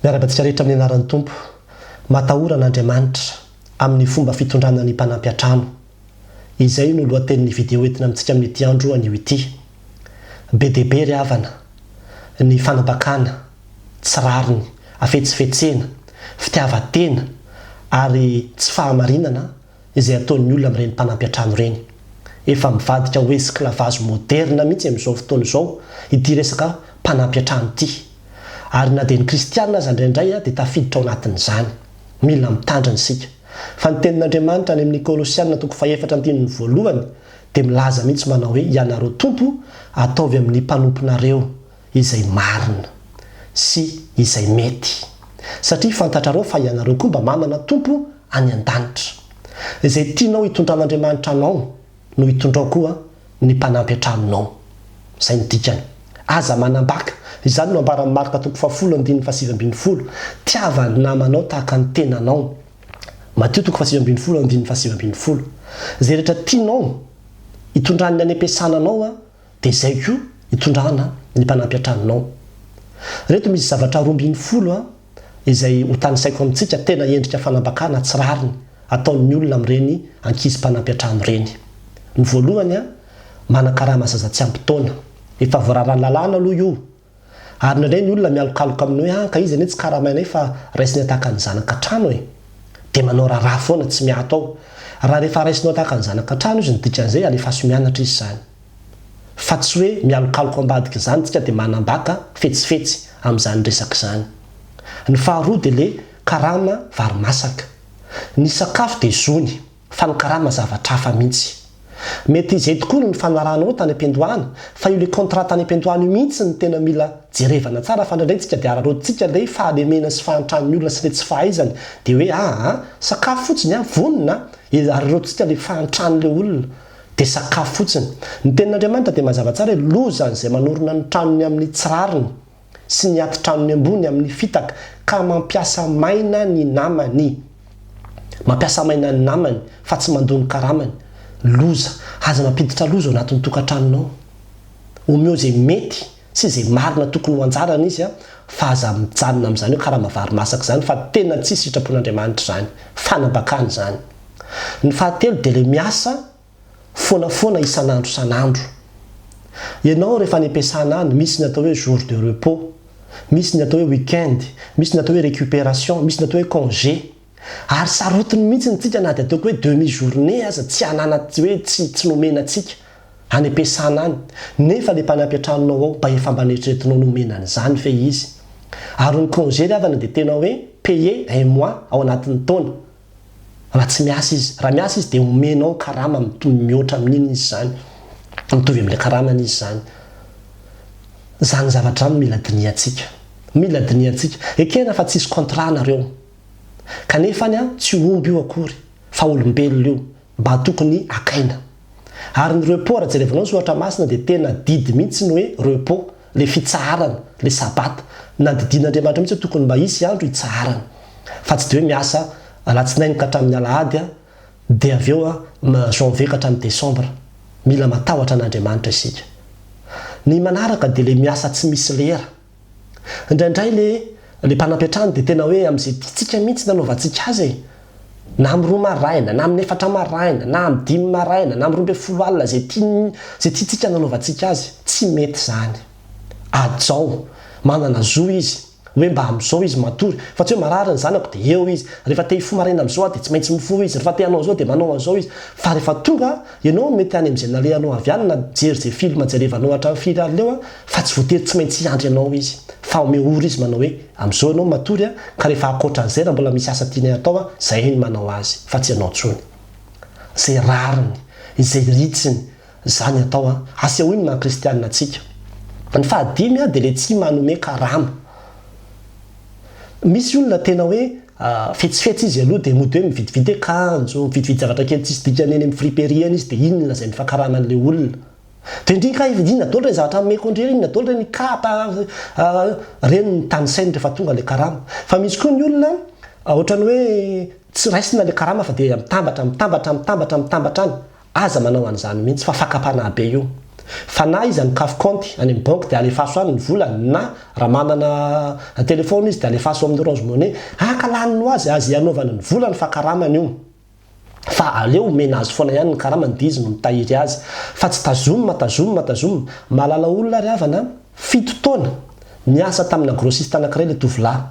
Miara-badika rehetra amin'ny anaran'ny Tompo. Matahora an'Andriamanitra amin'ny fomba fitondrana ny mpanampy an-trano. Izay no lohatenin'ny video entina amintsika amin'ity andro anio ity. Be dia be ry havana ny fanambakana tsy rariny, hafetsifetsena, fitiavan-tena ary tsy fahamarinana izay ataon'ny olona amin'ireny mpanampy an-trano ireny. Efa mivadika ho esklavazy moderna mihitsy amin'izao fotoana izao ity resaka mpanampy an-trano ity. Ary na dia ny kristiana aza indraindray dia tafiditra ao anatin'izany. Mila mitandrina isika. Fa ny tenin'Andriamanitra any amin'ny Kolosiana toko fahefatra andininy voalohany dia milaza mihitsy manao hoe ianareo tompo ataovy amin'ny mpanomponareo. izay marina sy izay mety, satria fantatrareo fa ianareo koa mba manana Tompo any an-danitra. Izay tianao hitondran'Andriamanitra anao no hitondrao koa ny mpanampy an-tranonao. Izay no dikany. Aza manambaka. Izany no ambaran'i Marka toko fahafolo andininy fahasivy ambin'ny folo. Tiava ny namanao tahaka ny tenanao. Matio toko fahasivy ambin'ny folo andininy fahasivy ambin'ny folo. Izay rehetra tianao hitondran'ny any am-piasana anao, Dia izay koa hitondrana ny mpanampy an-tranonao. Ireto misy zavatra roa ambin'ny folo izay hotanisaiko amintsika tena endrika fanambakana tsy rariny ataon'ny olona amin'ireny ankizy mpanampy an-trano ireny. Ny voalohany, manan-karama zaza tsy ampy taona. Efa voararan'ny lalàna aloha io. Ary indraindray ny olona mialokaloka amin'ny hoe an ka izy anie tsy karamainay fa raisiny ataka ny zanaka an-trano e! Dia manao raharaha foana tsy miato ao. Raha rehefa raisinao ataka ny zanaka an-trano izy ny dikan'izay alefaso mianatra izy izany. Fa tsy hoe mialokaloka ambadika izany isika dia manambaka fetsifetsy amin'izany resaka izany. Ny faharoa dia ilay karama varimasaka. Ny sakafo dia zony. fa ny karama zavatra hafa mihitsy. Mety izay tokoa no nifanaranao tany am-piandohana fa io le contrat tany am-piandohana io mihitsy no tena mila jerevana tsara fa indraindray tsika dia araraotintsika le fahalemena sy fahantran'ny olona sy le tsy fahaizany dia hoe aa sakafo fotsiny an vonona an araraotintsika le fahantran'le olona dia sakafo fotsiny. Ny tenin'Andriamanitra dia mazava tsara hoe loza an'izay manorina ny tranony amin'ny tsy rariny. sy ny atitranony ambony amin'ny fitaka ka mampiasa maina ny namany. Mampiasa maina ny namany fa tsy mandoa ny karamany. Loza. Aza mampiditra loza ao anatin'ny tokantranonao. Omeo izay mety sy izay marina tokony ho anjarany izy fa aza mijanona amin'izany hoe karama vary masaka izany fa tena tsisy sitrapon'Andriamanitra izany. Fanambakana izany. Ny fahatelo dia ilay miasa foanafoana isan'andro isan'andro. Ianao rehefa any am-piasana any, misy ny atao hoe jour de repos, misy ny atao hoe week-end, misy ny atao hoe récupération, misy ny atao hoe congé. Ary sarotiny mihitsy ny tsika na dia ataoko hoe demi journée aza tsy hanana tsy hoe tsy tsy nomena antsika any am-piasana any. Nefa ilay mpanampy an-tranonao ao mba efa mba neritreretinao ny homena an'izany ve izy. Ary ny congé ry havana dia tena hoe payé un mois ao anatin'ny taona. raha tsy miasa izy. Raha miasa izy dia omenao karama mitohy mihoatra amin'iny izy izany, mitovy amin'ilay karamany izy izany. Izany zavatra izany no mila dinihantsika. Mila dinihantsika. Ekena fa tsy hisy contrat nareo. Kanefany an, tsy omby io akory, fa olombelona io. mba tokony akaina. Ary ny repos raha jerevinao ny soratra masina dia tena didy mihitsy ny hoe repos, ilay fitsaharana, ilay sabata. Nadidian'Andriamanitra mihitsy hoe tokony mba hisy andro hitsaharana. Fa tsy dia hoe miasa alatsinainy ka hatramin'ny alahady dia avy eo janvier ka hatramin'ny décembre. Mila matahotra an'Andriamanitra isika. Ny manaraka dia ilay miasa tsy misy lera. Indraindray le le mpanampy an-trano dia tena hoe amin'izay tiantsika mihitsy no anaovantsika azy e! Na amin'ny roa maraina, na amin'ny efatra maraina, na amin'ny dimy maraina, na amin'ny roa ambin'ny folo alina, izay tiany, izay tiantsika no anaovantsika azy. Tsy mety izany. Hajao. Manana zo izy. Hoe mba amin'izao izy matory. Fa tsy hoe marary ny zanako dia eo izy. Rehefa te hifoha maraina amin'izao aho dia tsy maintsy mifoha izy. Rehefa te hanao an'izao dia manao an'izao izy. Fa rehefa tonga, ianao mety any amin'izay nalehanao avy any na mijery izay film jerevanao hatramin'ny firy alina eo, Fa tsy voatery tsy maintsy hiandry anao izy. Fa omeo ora izy manao hoe, Amin'izao ianao matory an, ka rehefa ankoatra an'izay raha mbola misy asa tianay hatao an, izahay no manao azy, fa tsy ianao intsony. Izay rariny, izay ritsiny, izany atao an. Asehoy ny maha kristiana antsika. Ny fahadimy an, dia ilay tsy manome karama. Misy olona tena hoe fetsifetsy izy aloha dia mody hoe mividividy akanjo, mividividy zavatra kely tsisy dikany eny amin'ny friperie eny izy dia iny no lazainy fa karama an'ilay olona. Tendreny kay ry inona daholo ireny zavatra omeko an-dry ireny, inona daholo ireny ny kapa a, ireny ny tanisainy rehefa tonga ilay karama. Fa misy koa ny olona ohatran'ny hoe tsy raisina ilay karama fa dia mitambatra, mitambatra, mitambatra, mitambatra any. Aza manao an'izany mihitsy fa fakam-panahy be io. Fa na iza mikafy kaonty any amin'ny banky dia alefaso any ny vola na raha manana telefaona izy dia alefaso ao amin'ny Orange Money, haka lany ny ho azy, azy hanaovany ny volany fa karamany io. fa aleo omena azy foana ihany ny karamany dia izy no mitahiry azy fa tsy tazomina tazomina tazomina, mahalala olona ry havana an! fito taona niasa tamina grossiste anankiray ilay tovolahy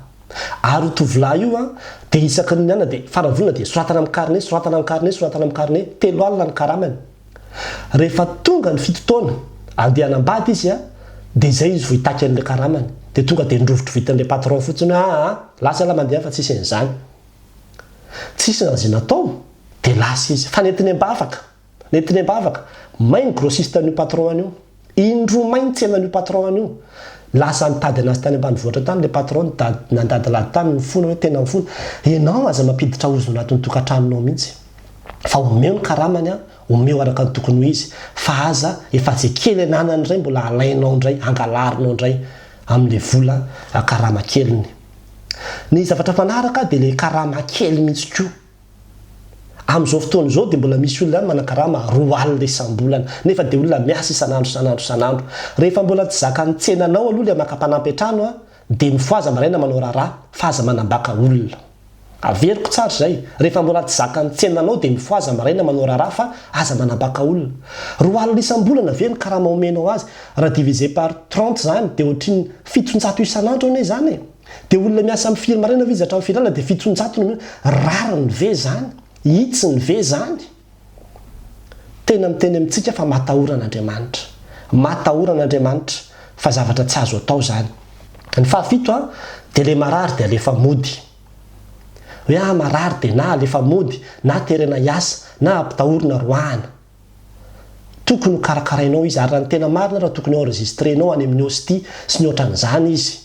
ary io tovolahy io an dia isaky ny mianana dia farany vonona dia soratana amin'ny carnet soratana amin'ny carnet soratana amin'ny carnet telo alina ny karamany rehefa tonga ny fito taona andeha hanambady izy an dia izay izy vao hitaky an'ilay karamany dia tonga dia norovitrovitin'ilay patron fotsiny hoe aa lasa la mandeha fa tsisy an'izany Tsisy na izay natao dia lasa izy fa nentiny am-bavaka, nentiny am-bavaka, may ny grossiste an'io patron an'io, indroa may ny tsenan'io patron an'io, lasa nitady anazy tany ambanivohitra tany ilay patron nitady, nandady lady tany nifona hoe tena mifona, ianao aza mampiditra ozona anatin'ny tokantranonao mihitsy fa omeo ny karamany an, omeo araka ny tokony ho izy fa aza efa izay kely ananany indray mbola alainao indray, angalarinao indray amin'ilay vola karama keliny. Ny zavatra manaraka dia ilay karama kely mihitsy koa. Amin'izao fotoana izao dia mbola misy olona any manan-karama roa alina isam-bolana, nefa dia olona miasa isan'andro isan'andro isan'andro. Rehefa mbola tsy zakan'ny tsenanao aloha ilay maka mpanampy an-trano dia mifohaza maraina manao raharaha fa aza manambaka olona. Averiko tsara izay, rehefa mbola tsy zakan'ny tsena anao dia mifohaza maraina manao raharaha fa aza manabaka olona. Roa alina isam-bolana ve ny karama omenao azy? Raha diviser par trente izany dia ohatrin'ny fitonjato isan'andro anie izany e! Dia olona miasa amin'ny firy maraina ve izy hatramin'ny firy alina dia fitonjato no omenao? Rariny ve izany? Hitsiny ve izany? Tena miteny amintsika fa matahora an'Andriamanitra. Matahora an'Andriamanitra, fa zavatra tsy azo atao izany. Ny fahafito, dia ilay marary dia alefa mody. Hoe aho marary dia na alefa mody, na terena hiasa, na ampitahorina roahina. Tokony ho karakarainao izy, ary raha ny tena marina ary tokony ho enregistrenao any amin'ny hostie sy ny ohatran'izany izy.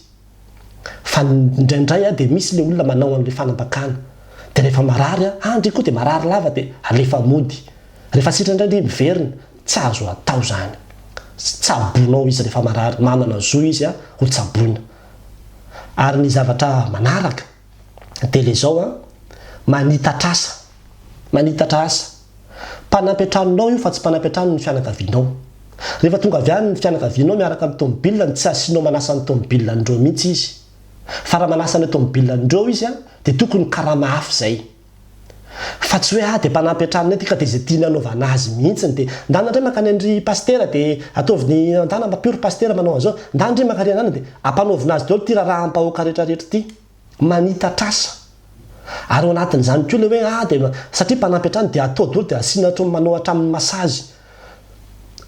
Fa indraindray a dia misy ilay olona manao an'ilay fanambakana. Dia rehefa marary a, andry koa dia marary lava dia alefa mody. Rehefa sitrana indray dia miverina. Tsy azo atao izany. Tsabonao izy rehefa marary. Manana zo izy a, hotsaboina. Ary ny zavatra manaraka. dia le zao an, manitatra asa, manitatra asa, mpanampy an-tranonao io fa tsy mpanampy an-tranon'ny fianakavianao. Rehefa tonga avy any ny fianakavianao miaraka amin'ny tomobilany tsy asianao manasa ny tomobilan'ireo mihitsy izy. Fa raha manasa an'ilay tomobilan'ireo izy an, dia tokony karama hafa izay. Fa tsy hoe ah dia mpanampy an-tranony aty ka dia izay tiany hanaovana azy mihitsiny dia ndana ndray mankany an-dry pasitera dia ataovy ny ndana mba pure pasitera manao an'izao ndana ndry mankary an-dana dia ampanaovina azy daholo ity raraham-bahoaka rehetra rehetra ity manitatr'asa ary ao anatin'izany koa ilay hoe ah dia satria mpanampy an-trano dia atao daholo dia asiana hatram manao hatramin'ny massage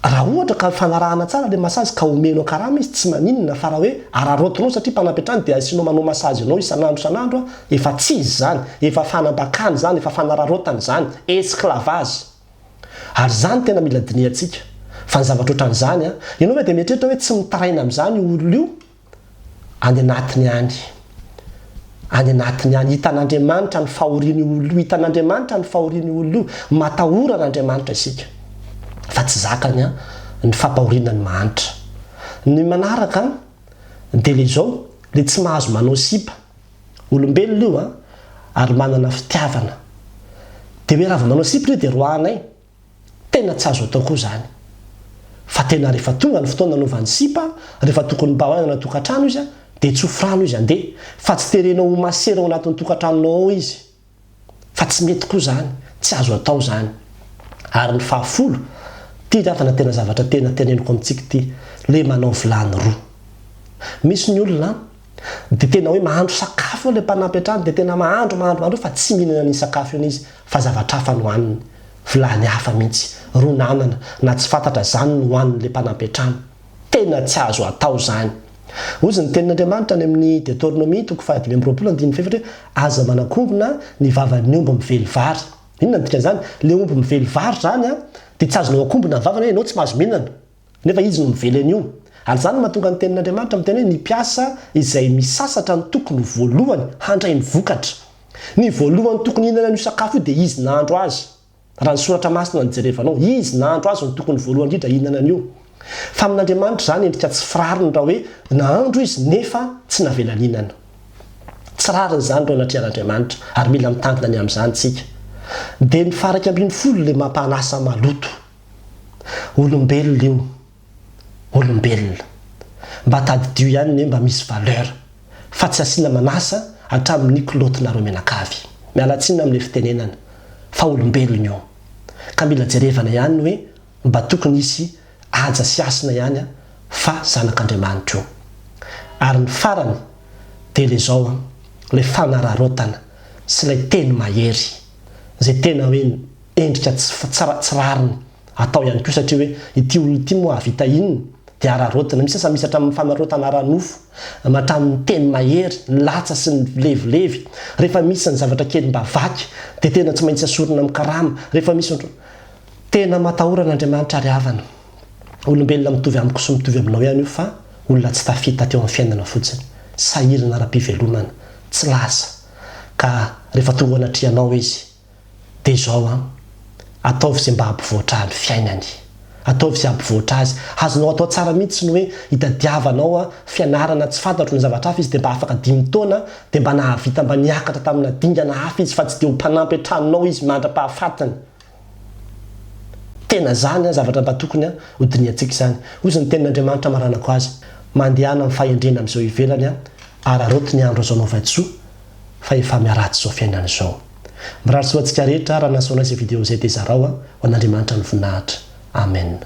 Raha ohatra ka ifanarahana tsara ilay masazy ka omenao karama izy, tsy maninona fa raha hoe araraotinao satria mpanampy hatrany dia asianao manao masazy anao isan'andro isan'andro efa tsy izy izany, efa fanambakana izany, efa fanararaotana izany, esclavage. Ary izany tena mila dinihantsika. Fa ny zavatra ohatran'izany an! Ianao ve dia mieritreritra hoe tsy mitaraina amin'izany io olona io any anatiny any, any anatiny any, hitan'Andriamanitra ny fahorian'io olona io, hitan'Andriamanitra ny fahorian'io olona io, matahora an'Andriamanitra isika, fa tsy zakany an, ny fampahoriana ny mahantra. Ny manaraka an, dia ilay izao, ilay tsy mahazo manao sipa, olombelona io an, ary manana fitiavana, dia hoe raha vao manao sipa ilay dia roahanay, Tena tsy azo atao koa izany. Fa tena rehefa tonga ny fotoana anaovany sipa, rehefa tokony mba hoany anaty tokantrano izy dia tsy hofrano izy handeha, fa tsy terenao ho masera ao anatin'ny tokantranonao ao izy. Fa tsy mety koa izany, tsy azo atao izany. Ary ny fahafolo, ity ravana tena zavatra tena teneniko amintsika ity, le manao vilany roa. Misy ny olona an! Dia tena hoe mahandro sakafo eo ilay mpanampy an-trano, dia tena mahandro, mahandro, mahandro eo fa tsy mihinana an'iny sakafo iny izy fa zavatra hafa no haniny. Vilany hafa mihitsy, rony anana, na tsy fantatra izany no hanin'ilay mpanampy an-trano. Tena tsy azo atao izany. Hoy ny Tenin'Andriamanitra any amin'ny Deteronomia toko fahadimy amby roapolo andininy fahefatra hoe, Aza manakongona ny vavan'ny omby mively vary. Inona no dikan'izany? Ilay omby mively vary izany dia tsy azonao akombona ny vavany hoe ianao tsy mahazo mihinana. Nefa izy no mively an'io. Ary izany no mahatonga ny Tenin'Andriamanitra miteny hoe ny mpiasa izay misasatra no tokony ho voalohany handray ny vokatra. Ny voalohany tokony hihinana an'io sakafo io dia izy nahandro azy. Raha ny Soratra Masina no jerevanao, izy nahandro azy no tokony voalohany indrindra hihinana an'io. Fa amin'Andriamanitra izany endrika tsy firariny raha hoe nahandro izy nefa tsy navela nihinana. Tsy rariny izany ireo anatrehan'Andriamanitra ary mila mitandrina ny amin'izany isika. Dia ny faha iraika ambin'ny folo ilay mampanasa maloto. Olombelona io. Olombelona. Mba tadidio ihany ny hoe mba misy valeur. Fa tsy asiana manasa hatramin'ny kilaotinareo mianakavy. Miala tsiny amin'ilay fitenenana. Fa olombelona io. Ka mila jerevana ihany ny hoe mba tokony hisy haja sy hasina ihany fa zanak'Andriamanitra io. Ary ny farany dia ilay izao an, ilay fanararaotana sy ilay teny mahery. Izay tena hoe endrika tsy rariny atao ihany koa satria hoe ity olona ity moa hahavita inona dia araraotina, misy aza misy hatramin'ny fanaraotana ara-nofo, hatramin'ny teny mahery, ny latsa sy ny vilevilevy, rehefa misy ny zavatra kely mba vaky dia tena tsy maintsy asorina amin'ny karama, rehefa misy ohatry ny. Tena matahora an'Andriamanitra ry havana, olombelona mitovy amiko sy mitovy aminao ihany io fa olona tsy tafita teo amin'ny fiainana fotsiny, sahirana ara-pivelomana, tsy lasa ka rehefa tonga ao anatrehanao izy, Dia izao an! Ataovy izay mba hampivoatra ahy ny fiainany. Ataovy izay hampivoatra azy. Azonao atao tsara mihitsy ny hoe hitadiavanao an, fianarana, tsy fantatro ny zavatra hafa izy dia mba afaka dimy taona, dia mba nahavita mba niakatra tamina dingana hafa izy fa tsy dia ho mpanampy an-tranonao izy mandra-pahafatiny. Tena izany an, zavatra mba tokony an, ho dinihantsika izany. Hozy ny tenin'Andriamanitra amaranako azy, Mandehana amin'ny fahendrena amin'izao ivelany an, araraoty ny andro azo anaovan-tsoa, fa efa miharatsy zao fiainana izao. Mirary soa antsika rehetra raha nahasoa anay izay video izay dia zarao ho an'Andriamanitra ny voninahitra. Amen.